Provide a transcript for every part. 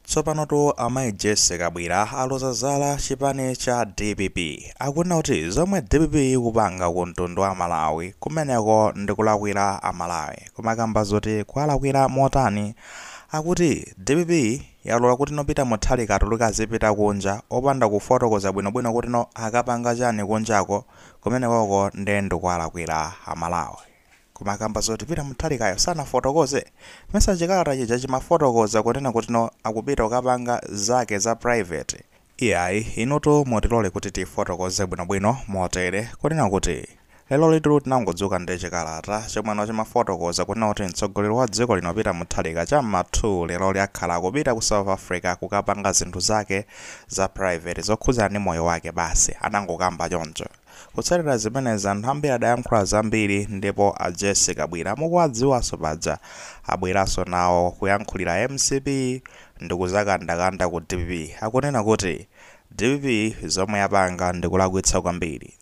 Tsopanotu amayi Jessie Kabwira aloza zala chipani cha dpp. Akunena kuti zomwe dpp ikupanga ku mtundu wa Malawi kumeneko ndi kulakwira a Malawi. Koma kamba zoti kuwalakwira motani, akuti dpp yalola kuti no Peter Mutharika atuluke azipita kunja opanda kufotokoza bwinobwino kuti no akapanga chani kunjako, kumenekoko nde ndikuwalakwira a Malawi. Koma kamba zoti Peter Mutharikayo sanafotokoze, mesa chikalata chija chimafotokoza kunena kuti no akupita kukapanga zake za private. Iyayi, inutu mutilole kuti tifotokoze bwinobwino motere, kunena kuti lerolitu tinangodzuka ndi chikalata chomwe no chimafotokoza kunena kuti mtsogoleri wa dziko lino Peter Mutharika cha mma 2 leroli akhala akupita ku South Africa kukapanga zinthu zake za private zokhudzana ndi moyo wake basi, anangokamba choncho. Kutsatira zimenezi anthu ambiri adayankhula zambiri ndipo a Jessie Kabwira mukuwadziwanso paja abweranso nawo kuyankhulira mcp ndikuzakandakanda ku dpp akunena kuti dpp zomwe yapanga ndikulakwitsa kwambiri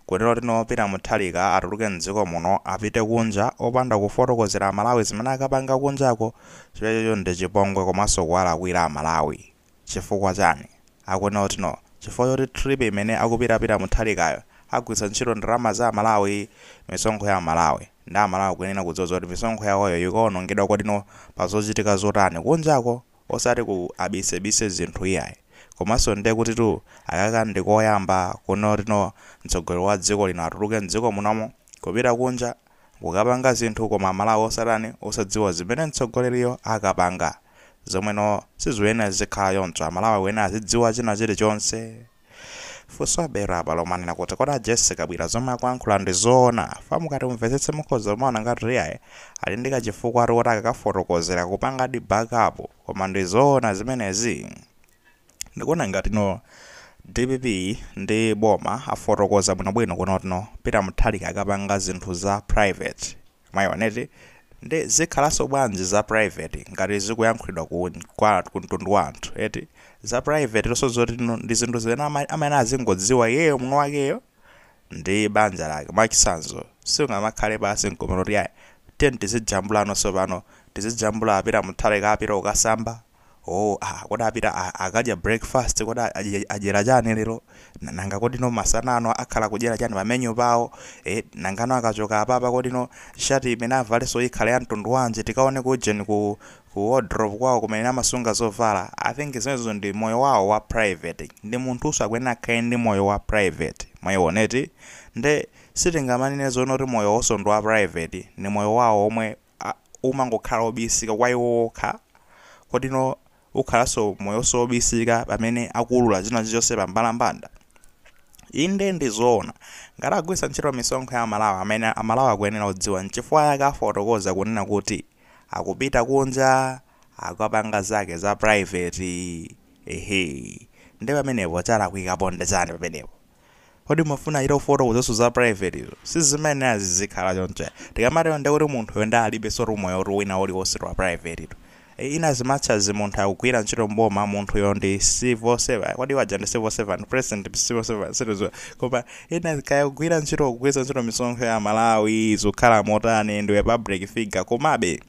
kunena kuti no Peter Mutharika atuluke m'dziko muno apite kunja opanda kufotokozera amalawi zimene akapanga kunjako chimenecho ndichipongwe komanso kuwalakwira amalawi. Chifukwa chani? Akunena kuti no chifukwa choti trip imene akupita Peter Mutharikayo agwiritsa ntchito ndalama za amalawi, misonkho ya amalawi, nde amalawi akuyenera kudziwa zoti misonkho yawoyo ikaonongedwa kodi no pa zochitika zotani kunjako osati ku abisebise zinthu iyayi komanso nde kutitu akaka ndikoyamba kunena kuti no mtsogoleri wa dziko lino atuluke mdziko munomo kupita kunja kukapanga zinthu koma amalawi osatani osadziwa zimene mtsogoleriyo akapanga zomwe no sizikuyenera zizikhala choncho amalawi akuyenera azidziwa china chilichonse funso labwera apa lomanena kuti kodi a Jessie Kabwira zomwe akuyankhula ndi zoona fa mukati mumvetsetse mukhoza kumaona ngati iyayi ali ndi kachifukwatu koti akakafotokozera kupangadi backup koma ndi zoona zimenezi Ndikuona ngati no dpp ndi boma afotokoza bwinobwino kunena kuti no Peter Mutharika akapanga zinthu za private mwaiona eti nde zikhalaso bwanji za private ngati zikuyankhulidwa ku kwa ku mtundu wa anthu eti za private to so zoti no ndi zinthu zimene ama, amayenera azingodziwa iyeyo mwini wakeyo ndi banja lake mwachitsanzo siungamakhale pansi nkumanena kuti ayi tiyeni tizijambula no sopano tizijambula Peter Mutharika apita kukasamba oh ah, kodi apita a- akadya breakfast kodi a- adye- adyera chani lero Na- nanga kodi no masana ano akhala kudyera chani pa menu pawo eh, nanga no akachoka apapa kodi no shati imene avalenso ikhale ya mtundu wanji tikaone ku ujeni ku ku wardrobe kwawo kumene amasunga zovala i think zimenezo ndi moyo wawo wa private ndi munthunso akuyenera akhale ndi moyo wa private mwaiona eti nde sitingamanene zoona kuti moyo wawonso ndi wa private ni moyo wawo omwe a, umangokhala wobisika kwa iwo wokha, kodi no ukhalanso moyonso wobisika pamene akuwulula zina zilizonse pa mbalambanda? Inde ndi zoona, ngati agwiritsa ntchito misonkho ya Amalawi amene Amalawi akuyenera kudziwa nchifukwa yake afotokoza kunena kuti akupita kunja akapanga zake za private, ehe, nde pamenepo chalakwikapo nde chani pamenepo? Kodi mumafuna achite kufotokozanso za private izo? Sizimayenera zizikhala choncho. Tikamatero ndiye kuti munthuyo ndiye alibensotu moyotu wina uliwonsetu wa private tu. E, in as much as munthu akugwira ntchito m'boma, munthuyo ndi civil servant. Kodi paja ndi civil servant, president ndi civil servant, sitidziwa. Koma ina kaya akugwira ntchito, kugwiritsa ntchito misonkho ya Amalawi, zikukhala motani, ndiwe public figure, komabe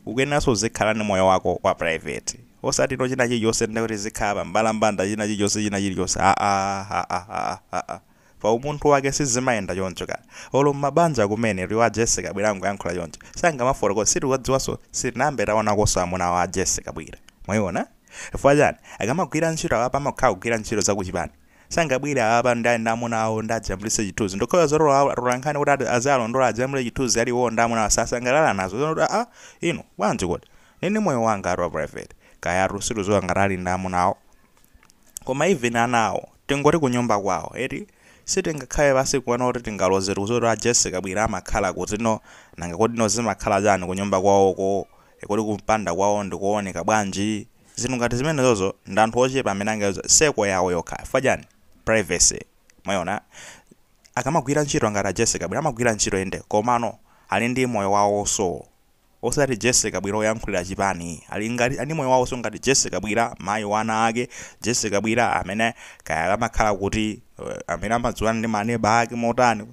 ukuyeneranso uzikhala ndi moyo wako wa private. Osati no china chilichonse ndi kuti zikhala pa mbalambanda china chilichonse china chilichonse aah pa umunthu wake sizimayenda choncho ka olo mmabanja kumene iwowa a Jessie Kabwila angoyankhula choncho sangamafotokoze sitiwadziwanso sitinayambe taonakonso amuna a Jessie Kabwila mwaiona chifukwa chani akamagwira ntchito apapa amakhala kugwira ntchito za kuchipani sangabwere apapa ndi ndi amuna awo ndi ajambulise chithunzi ndikhoza zoti olo atolankhani kuti ati aziwalondola ajambule chithunzi ali iwowo ndi amuna awo sasangalala nazo zonoti aa inu bwanji kodi Nini moyo wangatu wa private. Kayatu sitiziwa ngati ali ndi amuna awo. Koma even ana awo tingoti kunyumba kwawo eti? Sitingakhale pansi nkuona kuti tingalozetu kuziwa kuti a Jessie Kabwila amakhala kuti no? Nanga kodi no zimakhala chani kunyumba kwawoko? Kodi kumpanda kwawo ndikooneka bwanji? Zinthu ngati zimenezozo ndi anthu ochepa amene angaziwe circle yawo yokha chifukwa chani? Privacy. Mwayiona? Akamagwira ntchito ngati a Jessie Kabwila amagwira ntchito inde komano ali ndi moyo wawoso. osati Jessie Kabwila oyankhulira chipani ali ngati ali ni moyo wawoso ngati Jessie Kabwila mayi wa ana ake Jessie Kabwila amene kaya amakhala kuti amene amadziwana ndi ma neba ake motani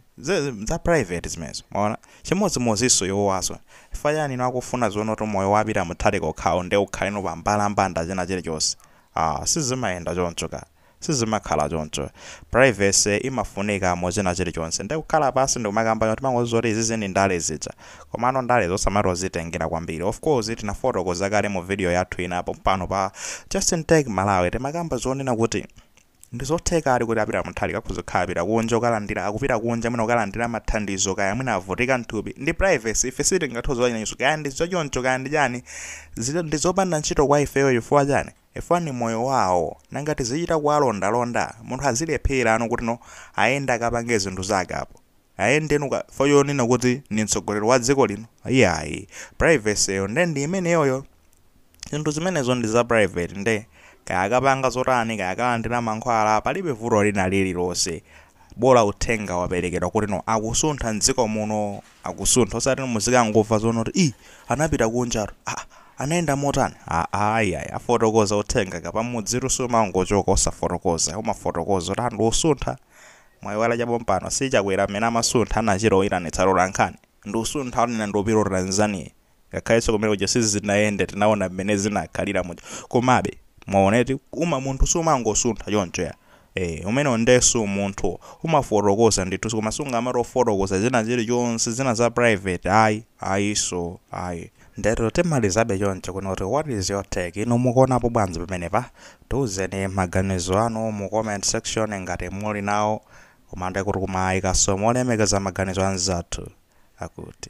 za private zimenezo mwaona chimodzimodziso iwowaso chifukwa chani inu akufuna zonoti moyo wa Peter Mutharika okhawo nde ukhaleno pa mbalambanda china chilichonse aah sizimayenda choncho ka Sizimakhala choncho. Privacy imafunika mu china chilichonse. Nde kukhala pansi ndikumakamba choncho timangoziwa kuti izizi ndi ndale zija. Komano ndalezo osamatozitengera kwambiri. Of course tinafotokoza kale mu video yathu ina pompano pa Just in Tech Malawi timakamba zonena kuti ndizothekadi kuti a Peter Mutharika akhoza kukhala apita kunja kukalandira akupita kunja mwina kukalandira mathandizo kaya mwina avutika mthupi. Ndi privacy ife sitingathe kuziwa zimenezo kaya ndizochoncho kaya ndi chani zili ndizopanda ntchito kwa ifeyo chifukwa chani? Chifukwa ni moyo wawo, nanga tizichita kuwalondalonda? Munthu azilephera no kuti no ayende akapange zinthu zake apo, ayende no chifukwa chonena kuti ni mtsogoleri wa dziko lino? Iyayi, privacy yo nde ndi imeneyoyo. Zinthu zimenezo ndi za private nde kaya akapanga zotani, kaya akalandira mankhwala, palibe vuto lina lililonse, bola uthenga waperekedwa kuti no akusuntha m'dziko muno. akusuntha osati muzikangomva zoona kuti ii anapita kunjatu aa anayenda motani aa ayiayi afotokoza uthenga kapamudzitu sumangochoka osafotokoza umafotokoza kuti anthu ndikusuntha mwayiwala chapompano si Chakwera amene amasuntha anachita kuyitanitsa atolankhani ndikusuntha kuti ine ndupita ku Tanzania ngakhalenso kumene kuja sizinayende tinaona mmene zinakhalira muja komabe mwaona eti uma munthu sumangosuntha choncho ya Eh, umenewo ndesu munthu umafotokoza ndithu koma sungamafotokoza zina zilichonse zina za private ayi ayiso ayi ndero timalizabe choncho kuno kuti what is your take inu mukuonapo bwanji pamenepa tiuzeni maganizo anu mu comment section ngati muli nawo koma ndekuti kumaayikaso molemekeza maganizo anzathu akuti